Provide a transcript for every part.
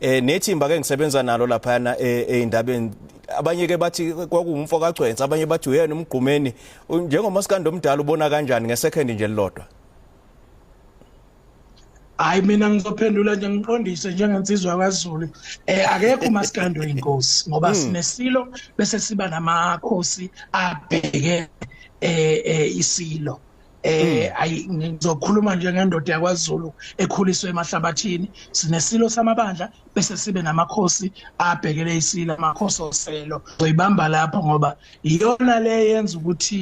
eh nethimba ke ngisebenza nalo laphana eh, eindabeni abanye ke bathi kwakungumfo kagcwensa abanye bathi uyena umgqumeni njengomasikandi omdala ubona kanjani ngesecond nje lilodwa hayi mina ngizophendula nje ngiqondise njengensizwa kwaZulu eh akekho umasikandi oyinkosi ngoba hmm. sinesilo bese siba namakhosi abheke eh, eh isilo eh hmm. ayi ngizokhuluma nje ngendoda yakwaZulu ekhuliswe emahlabathini sinesilo samabandla bese sibe namakhosi abhekele isilo amakhosi oselo uyibamba lapho ngoba iyona le yenza ukuthi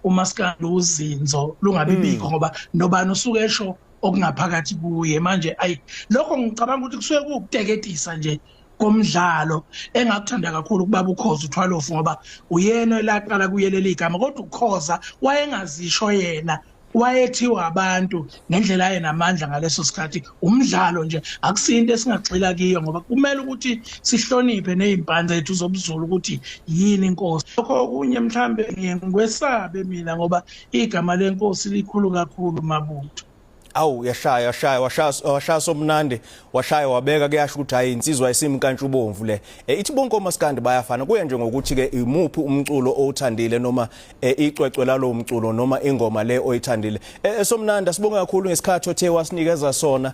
umaskandi uzinzo lungabibikho hmm. ngoba nobani usuke esho okungaphakathi kuye manje ayi lokho ngicabanga ukuthi kusuke kukuteketisa nje komdlalo engakuthanda kakhulu kubaba ukhoza uthwalofu ngoba uyena elaqala kuyeleli igama kodwa ukhoza wayengazisho yena wayethiwa abantu ngendlela aye namandla ngaleso sikhathi umdlalo nje akusinto esingagxila kiyo ngoba kumele ukuthi sihloniphe nezimpande zethu zobuzulu ukuthi yini inkosi lokho okunye mhlambe ngikwesabe mina ngoba igama lenkosi likhulu kakhulu mabutho awu uyashaya washaya washaya washaya somnandi washaya wabeka kuyasho ukuthi hayi insizwa isimkantshu bomvu le e, ithi bonke omaskandi bayafana kuya nje ngokuthi ke imuphi umculo owuthandile noma e, icwecwe lalo mculo noma ingoma le oyithandile e, somnandi asibonge kakhulu ngesikhathi othe wasinikeza sona